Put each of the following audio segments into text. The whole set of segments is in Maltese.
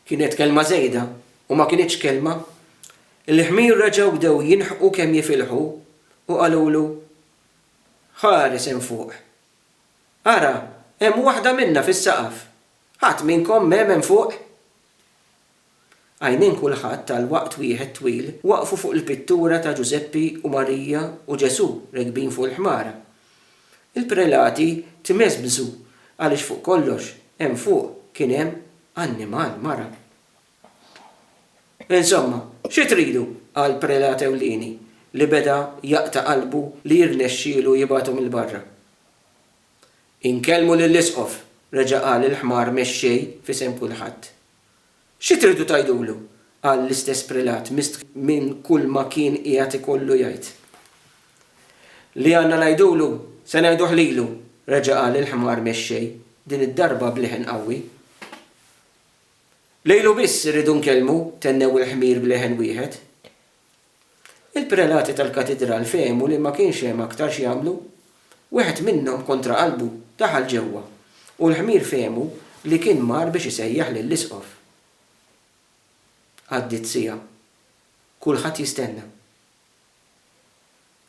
Kienet kelma żejda u ma kinitx kelma. Il-ħmir reġgħu bdew jinħqu kemm jifilħu u qalulu, Ħares hemm fuq! Ara, hemm waħda minna fis-saqaf! Ħadd minnkom m'hemm hemm fuq? Għajnejn kulħadd għal waqt wieħed twil waqfu fuq il-pittura ta' Ġużeppi u Marija u Ġesù rekbin fuq il-ħmara. Il-prelati tmeżbżu għaliex fuq kollox hemm fuq kien hemm annimal mara. Insomma, xi tridu għal prelat ewlieni li beda jaqta' qalbu li jirnexxielu jibgħathom 'il barra? Inkellmu lill-isqof, reġa' qal il-ħmar mexxej f'isem kulħadd. Xi tridu tgħidulu? qal l-istess prelat mistħi minn kulma kien qiegħed ikollu jgħid. Li għandna ngħidulu, se ngħiduh lilu! reġa' qal il-ħmar mexxej, din id-darba b'leħen qawwi. Lilu biss irridu nkellmu, tennew il-ħmir b'leħen wieħed. Il-prelati tal-katidral fehmu li ma kienx hemm aktar x'jagħmlu. Wieħed minnhom kontra qalbu daħal ġewwa, u l-ħmir fehmu li kien mar biex isejjaħ lill-isqof. Għaddiet siegħa. Kulħadd jistenna.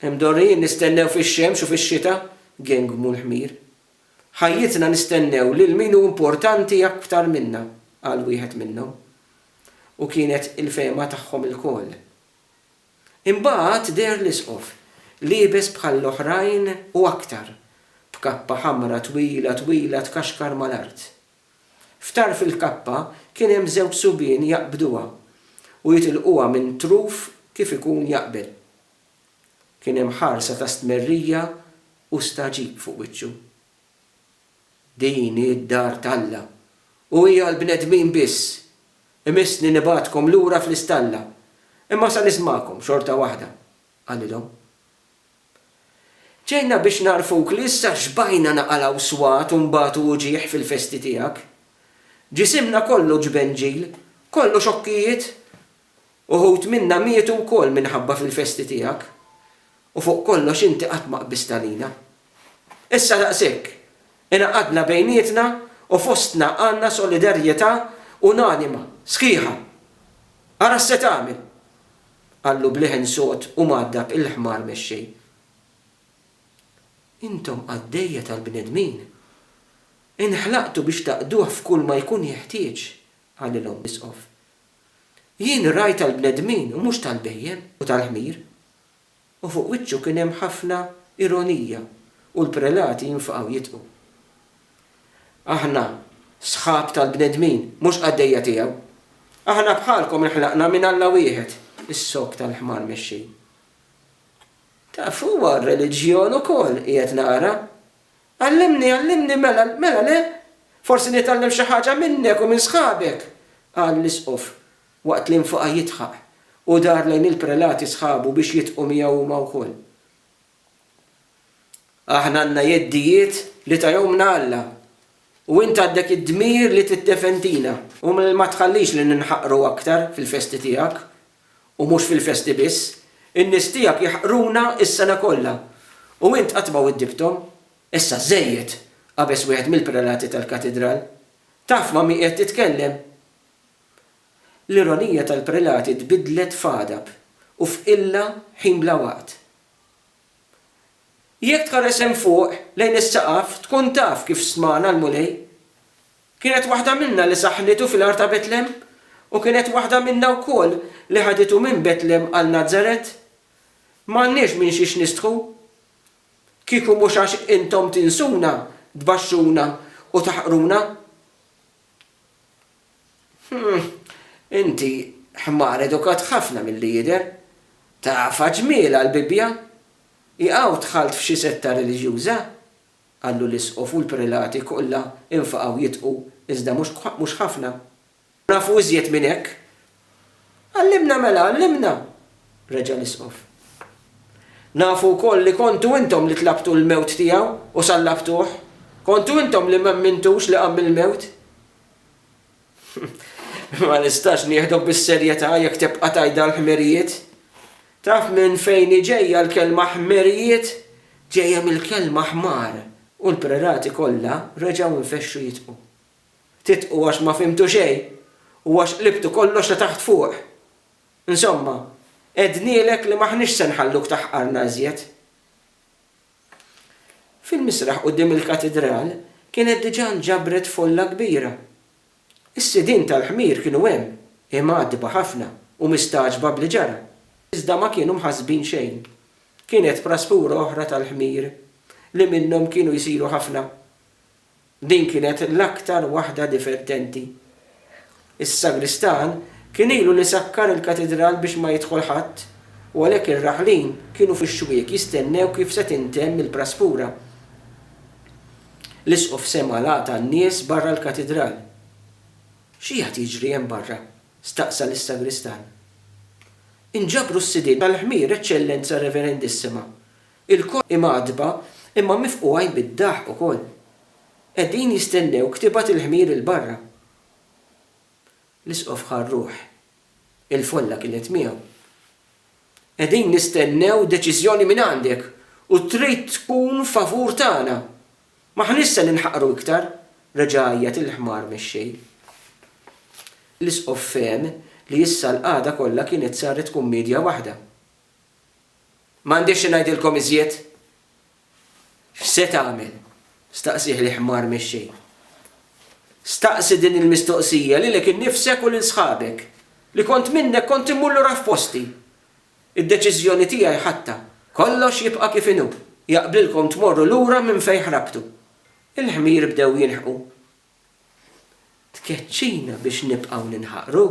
Imdorrijin nistennew fix-xemx u fix-xita, gengmu l-ħmir. Ħajjitna nistennew lil min hu importanti aktar minna, qal wieħed minnhom. u kienet il-fehma tagħhom ilkoll. Imbagħad deher l-Isqof, liebes bħall-oħrajn u aktar, b'kappa ħamra twila twila tkaxkar mal-art. F'tarf il-kappa kien hemm żewġ subien jaqbduha u jitilquha minn truf kif ikun jaqbel. Kien hemm ħarsa ta' stmerrija u stagħġib fuq wiċċu. Din hi d-dar t'Alla, u hi għall-bnedmin biss. Imissni nibgħatkom lura fl-istalla, imma sa nismagħkom xorta waħda, qalilhom. Ġejna biex nagħrfuk li issa xbajna naqalgħu swat u nbatu uġigħ fil-festi tiegħek. Ġisimna kollu ġbenġil, kollu xokkijiet, Uħud minna mietu wkoll minħabba fil-festi tiegħek, u fuq kollox inti qatt ma qbist għalina. Issa daqshekk, ingħaqadna bejnietna u fostna għandna solidarjetà unanima, sħiħa. Ara x'se tagħmel! qallu b'leħen sod u mgħaddab il-ħmar mexxej. Intom qaddejja tal-bnedmin. Inħlaqtu biex taqduh f'kulma jkun jeħtieġ, qalilhom l-Isqof. Jien rajt tal-bnedmin u mhux tal-bhejjem u tal-ħmir. U fuq wiċċu kien hemm ħafna ironija u l-prelati jinfqgħu jidqu. Aħna sħab tal-bnedmin, mhux qaddejja tiegħu. Aħna bħalkom inħlaqna minn Alla wieħed, is-sokk tal-ħmar mexxin. Taf, huwa r-reliġjon ukoll, qiegħed nara. Għallimni, għallimni, mela, mela le? Forsi nitgħallem xi ħaġa minnek u minn sħabek! qal l-Isqof, waqt li nfaqa' jidħaq, u dar lejn il-prelati sħabu biex jidħqu miegħu huma wkoll. Aħna għandna jeddijiet li tahomlna Alla, u int għandek id-dmir li tiddefendina. U ma tħallix li ninħaqru aktar fil-festi tiegħek, U mhux fil-festi biss. In-nies tiegħek jaħqruna s-sena kollha. U int qatt ma widdibthom. Issa żejjed! qabeż wieħed mill-prelati tal-katidral. Taf ma' min qiegħed titkellem? L-ironija tal-prelati tbiddlet f'għadab u f'qilla ħin bla waqt. Jekk tħares hemm fuq, lejn is-saqaf, tkun taf kif stmana l-Mulej. Kienet waħda minna li saħħnitu fil-għar ta' Betlem? U kienet waħda minna wkoll li ħaditu minn Betlem għal Nazaret? M'għandniex minn xiex nistħu. Kieku mhux għax intom tinsuna, tbaxxuna u taħqruna. Hm, inti ħmar edukat ħafna milli jidher. Tafha ġmielha l-Bibbja? Hi hawn dħalt f'xi setta reliġjuża? Qallu l-isqof u l-prelati kollha infaqgħu jidħqu, iżda mhux mhux ħafna. Nafu iżjed minn hekk! Għallimna mela, għallimna! reġa' l-isqof. Nafu wkoll li kontu intom li tlabtu l-mewt tiegħu u sallabtuh, kontu intom li m'ammintux li qam mill-mewt. Ma nistax nieħdok bis-serjetà jekk tibqa' tgħidha l-ħmerijiet. Taf minn fejn hi ġejja l-kelma ħmerijiet? Ġejja mill-kelma ħmar. U l-prelati kollha reġgħu nfexxu jitqu. Titqu għax ma fhimtu xejn u għax qlibtu kollox ta' taħt fuq. Insomma, għednielek li m'aħniex se nħalluk taħqarna iżjed. Fil-misraħ quddiem il-Katidral kienet diġà nġabret folla kbira. Is-sidien tal-ħmir kienu hemm, imgħaddba ħafna u mistagħġba b'li ġara, iżda ma kienu mħassbin xejn. Kienet prasfura oħra tal-ħmir, li minnhom kienu jsiru ħafna. Din kienet l-aktar waħda divertenti. Is-sagristan kien ilu li sakkar il-katidral biex ma jidħol ħadd u għalhekk ir-raħlin kienu fix-xwiek jistennew kif se tintemm il-praspura. L-isqof sema' l-għata n-nies barra l-katidral. X'qiegħed jiġri hemm barra? staqsa lis-sagristan. Inġabru s-sidien tal-ħmir, Eċċellenza Reverendissima, Ilkoll imgħaddba imma mifqugħin bid-daħq ukoll. Qegħdin jistennewk tibgħat il-ħmir 'il barra. L-Isqof ħa r-ruħ. Il-folla kienet miegħu. Qegħdin nistennew deċiżjoni mingħandek u trid tkun favur tagħna. M'aħniex se ninħaqru iktar, reġa' għajjat il-ħmar mexxej. L-Isqof fehem li issa l-qagħda kollha kienet saret kummedja waħda. M'għandix xi ngħidilkom iżjed? X'se tagħmel? staqsieh il-ħmar mix-xejn. Staqsi din il-mistoqsija lilek innifsek u lil sħabek. Li kont minnek kont immur lura f'posti. Id-deċiżjoni tiegħi ħadtha. Kollox jibqa' kif inhu. Jaqblilkom tmorru lura minn fejn ħrabtu. Il-ħmir bdew jinħqu. Tkeċċina biex nibqgħu ninħaqru?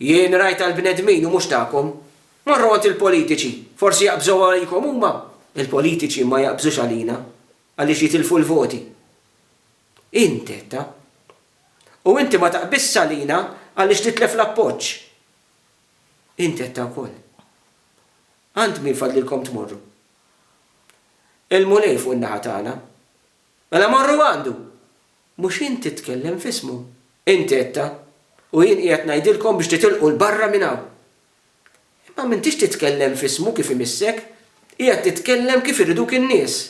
Jien rajtha l-bnedmin u mhux tagħkom. Morru għand il-politiċi, forsi jaqbżu għalikom huma. Il-politiċi ma jaqbżux għalina għaliex jitilfu l-voti. Int għedtha. U inti ma taqbiżx għalina għaliex titlef l-appoġġ. Int għedtha wkoll. Għand min fadlilkom tmorru? Il-Mulej fuq in-naħa tagħna. Mela morru għandu! Mhux int titkellem f'ismu. Int għedtha, u jien qiegħed ngħidilkom biex titilqu 'l barra minn hawn. Imma m'intix titkellem f'ismu kif imissek, qiegħed titkellem kif iriduk in-nies.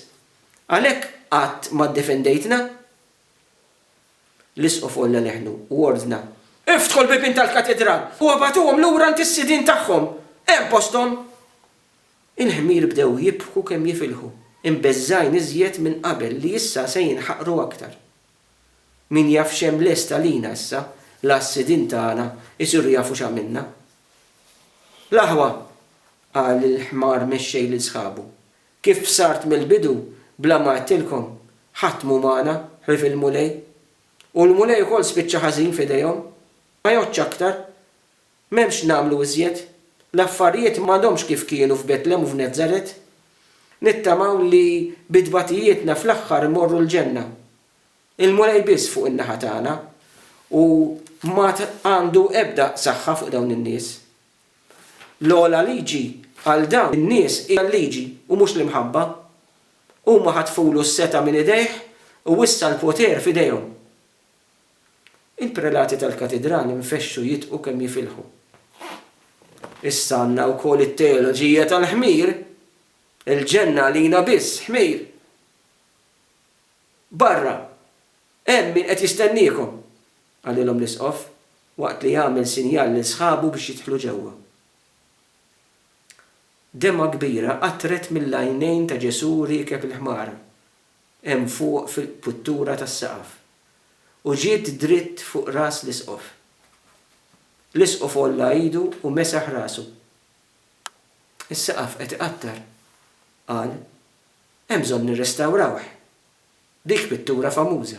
Għalhekk qatt ma ddefendejtna. L-isqof għolla leħnu u ordna, Iftħu l-bibien tal-katidral u ibagħtuhom lura għand is-sidien tagħhom. Hemm posthom! Il-ħmir bdew jibħku kemm jifilħu, imbeżżgħin iżjed minn qabel li issa se jinħaqru aktar. Min jaf x'hemm lest għalina issa, l-għas-sidien tagħna jsiru jafu x'għamilna. L-aħwa! qal il-ħmar mexxej lil sħabu. Kif bsart mill-bidu, bla ma għedtilkom, ħadd mhu magħna, ħlief il-Mulej. U l-Mulej ukoll spiċċa ħażin f'idejhom. Ma jgħoddx aktar! M'hemm x'nagħmlu iżjed. L-affarijiet m'għadhomx kif kienu f'Betlem u f'Nazzaret. Nittamaw li bi tbatijietna fl-aħħar immorru l-ġenna. Il-Mulej biss fuq in-naħa tagħna u m'għad għandu ebda saħħa fuq dawn in-nies. L-ogħla liġi għal dawn in-nies hija l-liġi u mhux l-imħabba. Huma ħatfulu s-setgħa minn idejh u issa l-poter f'idejhom. Il-prelati tal-Katidrali nfexxu jidqu kemm jifilħu. Issa għandna wkoll it-teoloġija tal-ħmir. Il-ġenna għalina biss ħmir. Barra, hemm min qed jistenniekom, qalilhom l-Isqof waqt li għamel sinjal lil sħabu biex jidħlu ġewwa. Demmgħa kbira qatret mill-għajnejn ta' Ġesù riekeb il-ħmara. hemm fuq fil-qputtura tas-saqaf, u ġiet dritt fuq ras l-Isqof. L-Isqof għolla idu u mesaħ rasu. Is-saqaf qed iqattar, qal, hemm bżonn nirrestawrawh. Dik pittura famuża.